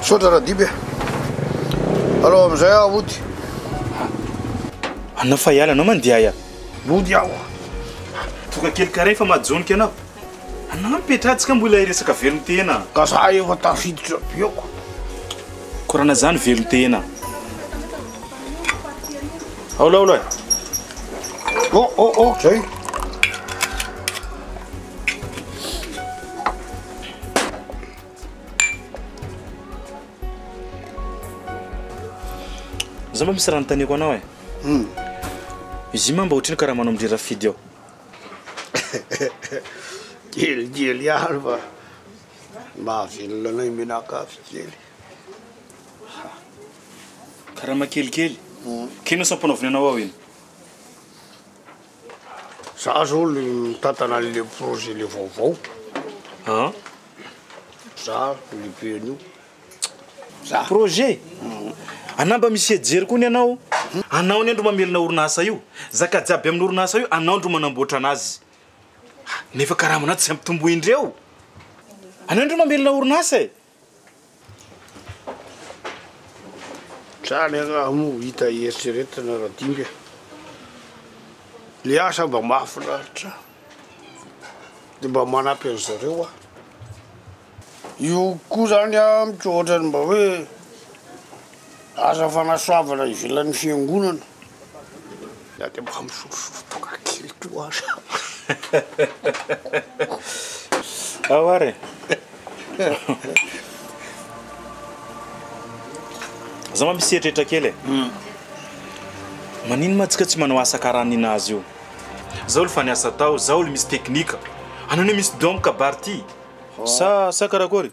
Misaotra Radiby e. Alao amin'izay aho ody. Anao fa hiala anao mandeha aia. Ody aho. Toka kely karain fa majonika anao. Anao mipetraha tsy ka mbola hiresaka velon-tena. Ka za efa tafiditra bioko. Korana zany velon-tena. Aona aona e. Oh oh oh zay. Za mba misy raha notaniako anao e. Hmm. Izy mba ohatry ny karaha manao midrira fidy ao. Kelikely ihany fa mahavelona anay menakavy kely. Ha! Karama kelikely? K'inona sa ampanaovinaina ho aho iny? Za zao le mitantana an'le projet le vaovao. An? Za lehibe an'io. Za. Projet? Anà mba misy hijery koa ny anao. Anao anie ndro mamelona orinasa io. Zaka jiaby amin'ny orinasa io anao ndro manamboatra anazy. Nefa karamanao tsy ampitomboindreo. Anao ndro mamelona orinasa e! Zany angaha moa hita eritreretina Radimby e! Le asa mba mahafinaritra de mba manampy an'i zareo aho. Io koa zany an, mitsy ohatrany mba hoe. Aza fanasoavana ivelan'ny fiangonana. Za de mba misotrosotro tonga kely koa aza. Ao ary e. Za mba misy eritreritra kely e. Maninona ma tsika tsy manao asa karaha ninazy io. Zao le fa niasa tao, zao le misy teknika. Anao anie misy don kabary ty sa sa karakôry?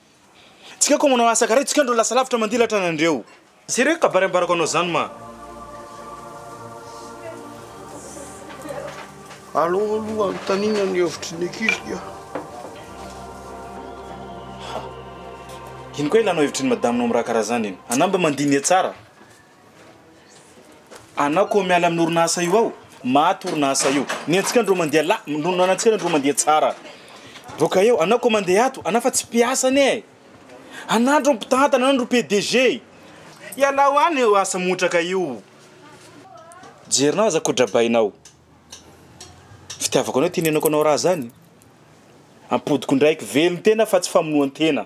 Tsika ko manao asa kara tsika ndro lasa lavitra mandilatra anandreo. Sérieux kabary ambarako anao zany ma. Aleo aloha anontaniana ny hevitry ny ankizy dia. Ino koa ilanao hevitry ny madaminao amin'ny raha karaha zany iny? Anao mba mandiniha tsara. Anao ko miala amin'ny orinasa io ao, maty orinasa io. Ny antsika ndro mandeha la- no ny antsika ndro mandeha tsara. Boaka eo, anao ko mandeha ato, anao fa tsy mpiasa anie e. Anao ndro mpitantana, anao ndro PDG. Ialao any io asa montraka io. Jerinao aza ko drabainao. Fitiavako anao ty nenako anao raha zany. Ampodiko ndraiky, velon-tena fa tsy famonoan-tena.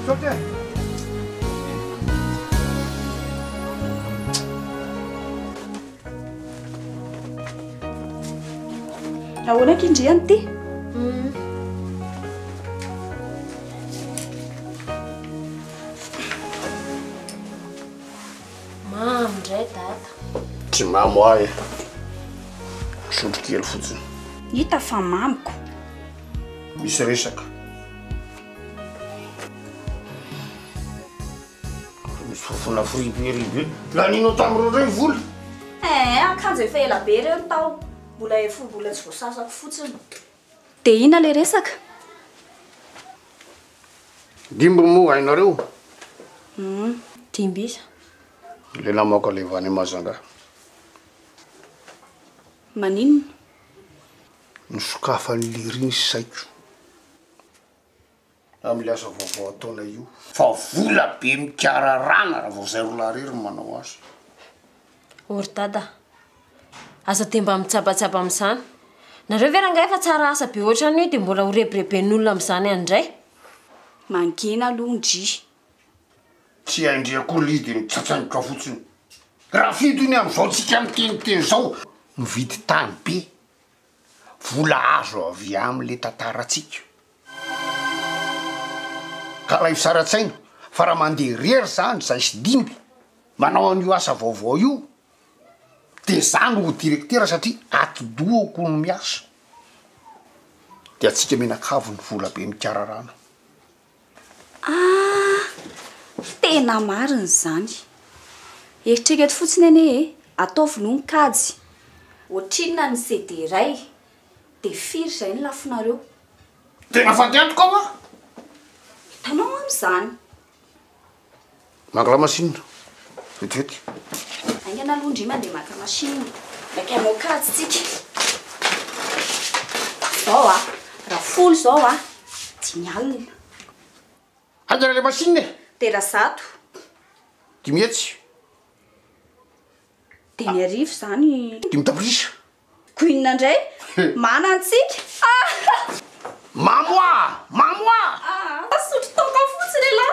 Misaotra e! Ahoana aky ndry an ty? Mamy ndray dada. Tsy mamy ho ahy e. Sotro kely fotsiny. Hita fa mamiko. Misy resaka. Fofona friberibe. Laninao tamin'ireo indray ny vola? Eeh, akanjo efa ela be ireo no tao. Mbola hefoha-bola tsy voasasako fotsiny. Dia inona ilay resaka? Dimby moa hainareo? Humm, dimby iza? Ilay namoaka leva any Majunga. Maninona? Nosokafan'i Léry ny saiko. amin'ilay asa vaovao ataonay io. Fa vola be mikararana raha vao izay roa lahy irery no manao azy. O ry Dada a! Aza dia mba mitsabatsaba amin'izany. Nareo ve rangahy efa tsara asa be ohatran'io dia mbola ho rebireben'olona amin'izany any indray? Mangina aloha ndry. Tsy hay ndry akory ilay izy dia mitsatsaingoka fotsiny. Rafido iny amin'izao tsika miteniteny izao mividy tany be vola azo avy amle tantaratsika ka raha isaratsaina fa raha mande rery zany zay sy dimby manao anio asa vaovao io de za no ho direktera satria atidohako no miasa de atsika mianakavy ny volabe mikararana Ah! Tena marina izany. Eritrereto fotsiny anie e, ataovy aloha ny kajy. Ohatrinona ny CD iray? Dia firy izay ny lafonareo? Tena fady antoka hoa! Hitanao amin'izany. Mangala machine vetivety. Aingana aloha ndry mandeha maka machine mba te hanao kajy tsika. Zao a, raha folo zao a, dimy alina. Haingana le machine e! De raha zato? Dimy hetsy. Dimy arivo zany. Dimy tapitrisa. Gouine ndray mana antsika ah. Mamoa! Mamoa! Ah! Asotro toaka fotsiny elah.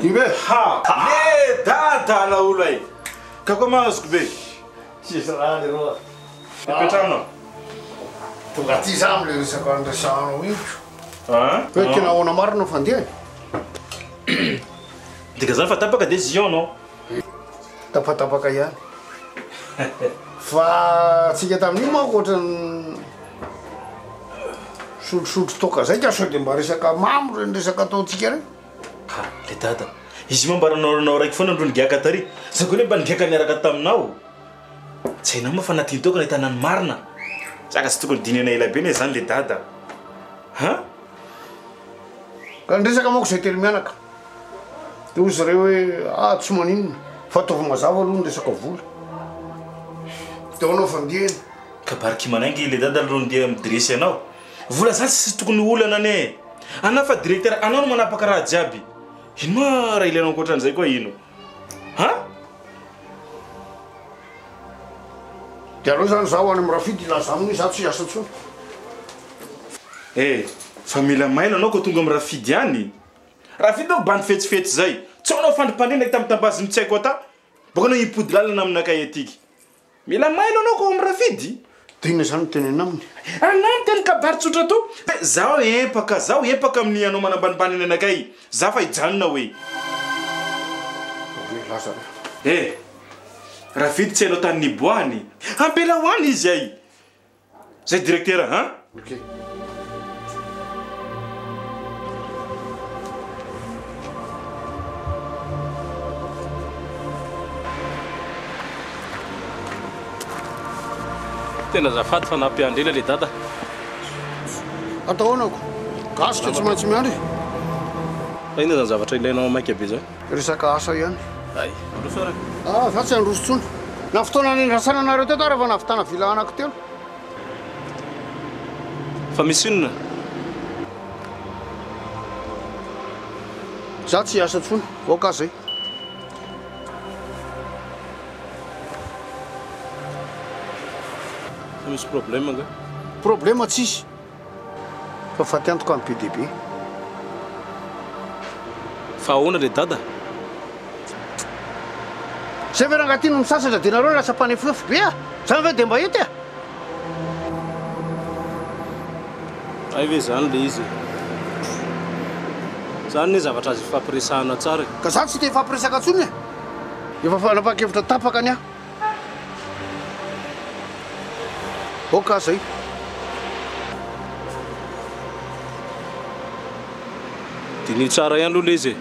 Iny ve? Ha! Ê! Dada anao olona e! Ka koa mahazo ko be! Tsisy raha leroa fa. Ipetrahana ao. Tonga aty za amle resaka niresahanao iny ko. An? Hoe tena ahoana marina no fandehany? Dika zany fa tapaka de zion no? Tapatapaka ihany. Fa tsika tamin'iny manko ohatran'ny sotrosotro toaka zay ka sao de mba resaka mamo reny resaka ataontsika reny. Ha, ry dada, izy io moa mba nanaoranao raiky foana aloha nigiaka tary. Zao koa anie mba nigiaka niaraka taminao. Tsy hainao moa fa natin'ny taoko nahitana ny marina. Zaka tsy tokony dinihana ela be anie izany ry dada. Ha? Raha ny resaka manko izay telo mianaka dia hoy zareo hoe ah tsy maninona fa ataovy mazava aloha ny resaka vola dia ho anaovy andiany. Kabary kimanay ange ilay dada aloha ndeha mi-dresser anao. Vola zany tsisy tokony olana anie e! Anao fa directeur, anao no manapaka raha jiaby. Ino ma raha ilainao ankoatran'izay koa ino? Ha? De aleo zany zaho any amin'ny Rafidy ilazano hoe za tsy hiasa intsony. Eh! Fa mila mailo anao koa tonga amin'ny Rafidy any? Rafidy manko bandy fetsifetsy zay. Tsy ao anao fandrimpandrina hita mitambazin'ny tsy haiko ata. Boaka anao himpody lalana aminakahy atiky. Mila mailo anao ko am rafidy. De inona zany no teneno aminy? Anao miteny kabary tsotra to hoe zaho empaka, zaho empaka amin'ny anao manambanimbany ny anakay, za fa hijanona hoe. Ory laza reo. Eh! Rafidy tsy hainao tany niboahany, ampela ho any izy ay! Zay directeur hein? Ok. Tena azafady fa nampiandry ela le dada. Ataonako. Gasy ka tsy maintsy miandry. Fa inona zany zavatra ilainao maika be zany? Resaka asa ihany. Hay, mandroso ara. Ah, za tsy handroso tsony. Na fotoana niandrasana anareo teto ara vao nahavitana villa anako telo. Fa misy inona? Za tsy hiasa tsony, aoka zay. Fa misy problème nga? Problème tsisy. Fa faty antoka ny be dia be. Fa ahoana ry dada? Zay ve rangah ty no misasatra de nareo lasa mpanefoefo be a! Zany ve de mba hety a! Hay ve zany le izy e! Zany ne zavatra azo ifampiresahana tsara e! Ka za tsy te hifampiresaka tsony e! Efa fanapakevitra tapaka ny ahy. Ok aza io. Diniho tsara ihany aloha lez e.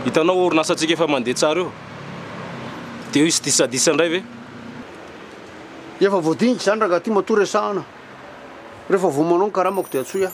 Hitanao orinasantsika efa mandeha tsara io. Dia hisy disadisa indray ve? Efa voadinika izany rangahy ty matoa resahana. Rehefa vao manao ny karamako dia antsoy ahy.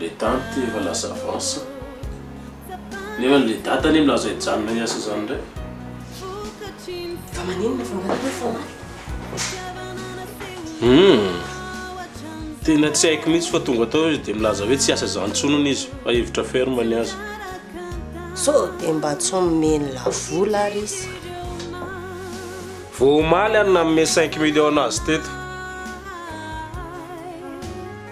Le date efa lasa avance. Nefa le date anie milaza hijanona hiasa zany ndray. Fa maninona vao mbola hoe foana? Hum. Tena tsy haiko mihitsy fa tonga tao izy dia milaza hoe tsy hiasa izany intsony hono izy fa hevitra ferme ny azy. Sao dia mba tsy omeny la vola ary izy. Vao omaly aho no nanome cinq millions azy teto.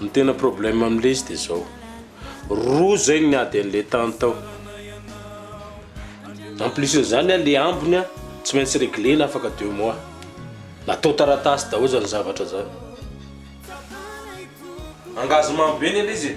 Ny tena problème amin'ilay izy dia izao, roa izay ny ady an'ilay tany tao, en plus n'izany an ilay ambiny an tsy maintsy reglena afaka deux mois, natao taratasy daholo izany zavatra izany, engagement be ny an'ilay izy e.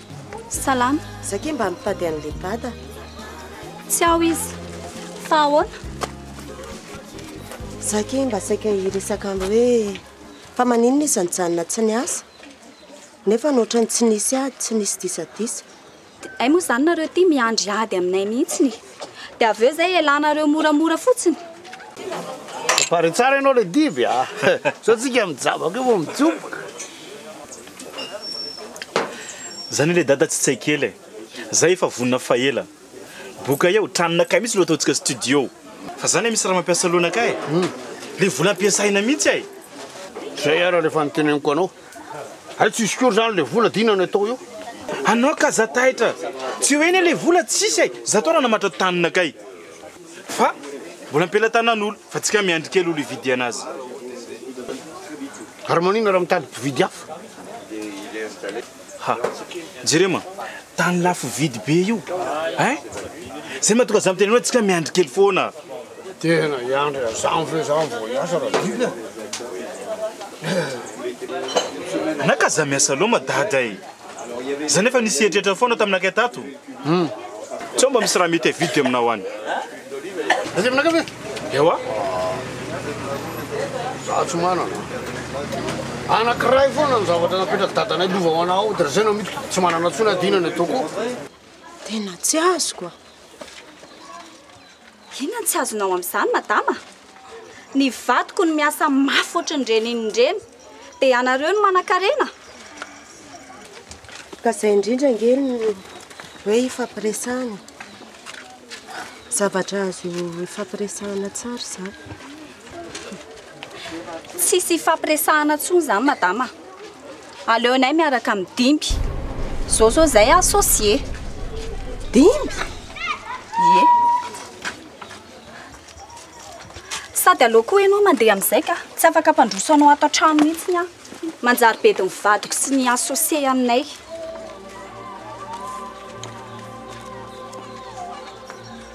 Salama. Za kay mba mitady an'le dada. Tsy ao izy. Fa ahoana? Za kay mba saika hiresaka anao hoe fa maninona izy nijanona tsy niasa? Nefa ohatrany tsy nisy ady, tsy nisy disadisa. Dia hay moa izany nareo ity miandry ady aminay mihitsy e. Dia avy eo izay elanareo moramora fotsiny. Prepare tsara ianao le diby a. Sao tsika mijabaka eo vao mijoboka. Zany le dada tsy tsay kely e. Zay efa vonona fa ela. Boka eo, tranonakay mitsy no ataontsika studio. Fa za le misy raha mampiasa lohanakay e. Le vola ampiasaina mitsy e. Zay ara le efa noteneniko anao. Hay tsisy akory zany le vola de inona no atao eo? Anao ka za taitra tsy eo eny le vola tsisy e! Za to nanamatra tanana kay fa mbola ampelatanan'olo fa tsika miandry kely olo hividy anazy. Ary manina raha mitady mpividy hafa? Ha! Jereo ma! Tany lafo vidy be io ein! Zay mahatonga za miteny hoe tsika miandry kely foana. Tena hiandry an'izany ve izany vao hiasa Radidy a? Naka za miasa loma dada e! Za nefa nisy eritreritra foana tamin'ny nakay tato. Sao mba misy raha mety avidy aminao any? Aiza aminakay ve? Ewa. Za tsy manana. Anankiray foana ny zavatra napetraky dadanay lova ho anao dia zay no amidiko. Tsy manana intsony aho dia inona ny ataoko? Tena tsy azoko a. Inona no tsy azonao amin'izany madama? Ny vadiko no miasa mafy ohatry ny renin'ireny, dia ianareo no manankarena? Ka izay indrindra ange no hoe ifampiresahana e. Zavatra azo ifampiresahana tsara izany. Tsisy ifampiresahana intsony izany madama. Aleonay miaraka amin'ny dimby. Zao zao zay associé. Dimby? Ie. Sady aleo koa ianao mandeha amin'izay ka. Tsy afaka hampandroso anao ato an-trano mihitsy aho. Manjary bedin'ny vadiko sy ny associé aminay.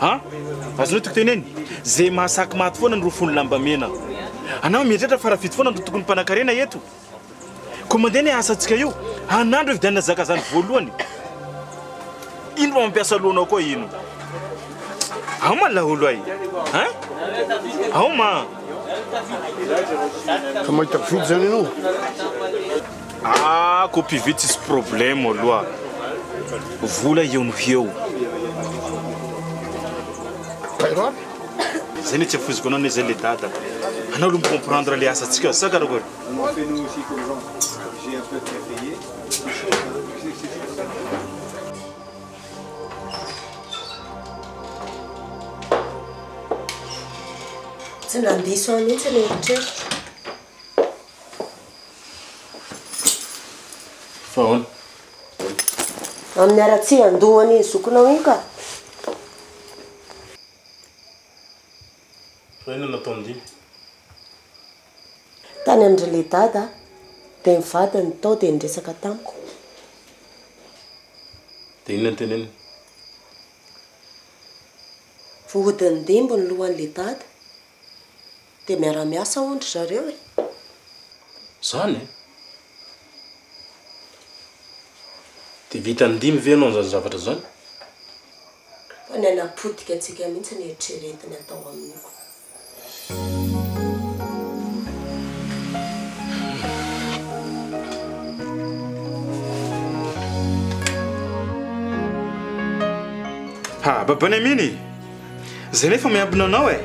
Ha? Azonao tiko teneny? Ze mahasaky maty foana no rofon'ny lambamena. Anao mieritreritra fa rafidy foana no tokony mpanakarena eto? Komande ny asantsika io, anandro hividianana zakazany voalohany. Ino mba mampiasa lohanao koa ino? Ao ma laolo ay? Ha? Ao ma? Ka mahita fidy zany ianao? Ah copie vy tsisy problème aloha vola eo noho eo. Bairo aby. Zay ne tsy afoiziko anao ne zay le dada. Anao aloha mi-comprendre le asantsika sa karakory? Tsy nandiso ahy mihitsy ny eritreritra. Fa ahoana? Amin'ny haratsian andohany iny zokinao iny ka. Fa inona no ataon'i Dimy? Tany amin-dry Ledada dia ny vadiny tao dia niresaka tamiko. Dia inona no teneniny? Voahodin'i Dimby ny lohan'i Ledada. Dia miara miasa hono ry zareo e! Zany e! Dia vita indimy ve ianao izany zavatra izany? Fa ny anà potika antsika mihitsy ny eritreretiny atao amin'iko. Ha! Baba Neminy! Zay nefa miambina anao eh.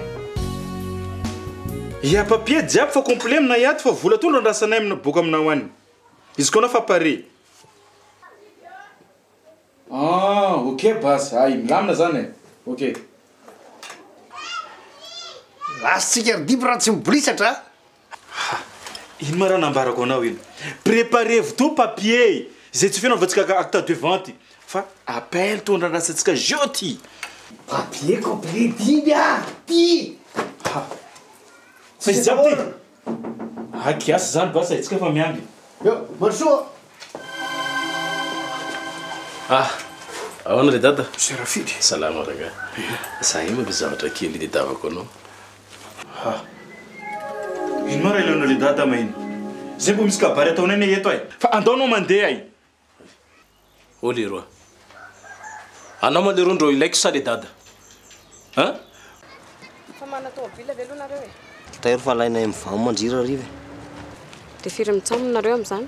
Il y a papier jiaby fa complet aminay ato fa vola tondro andrasanay amina boka aminao any. Izy koa anao fa pare. Ah ok base hay milamina zany eh. Ok. Last tsika ry Diby raha tsy mibolisatra a. Ha! Ino ma raha nambarako anao iny? Preparez-vous tout papiers zay tsofina anaovantsika ka acte de vente fa appel to andradrasantsika jeu ty. Papiers complet dimy a! Ty! Ha! Fa izy jiaby ty? Aa kiasy zany basy haintsika fa miandry. Eo! Mandro soa a! Ah! Ahoana ry dada? Monsieur Rafidy! Salama rangahy. Za io manko zavatra kely nitadiavako anao. Ha! Ino ma raha le dada ma iny? Zay vao misy kabary ataonay ne eto ai! Fa andao anao mandeha ai! Oh leroa! Anao ma leroa ndro ilaiko sa le dada? Hein? Efa manana tomobile ve aloha nareo e? Tairo fa alainay amin'ny vam mandrirariva e! De firy mitsaomy nareo amin'izany?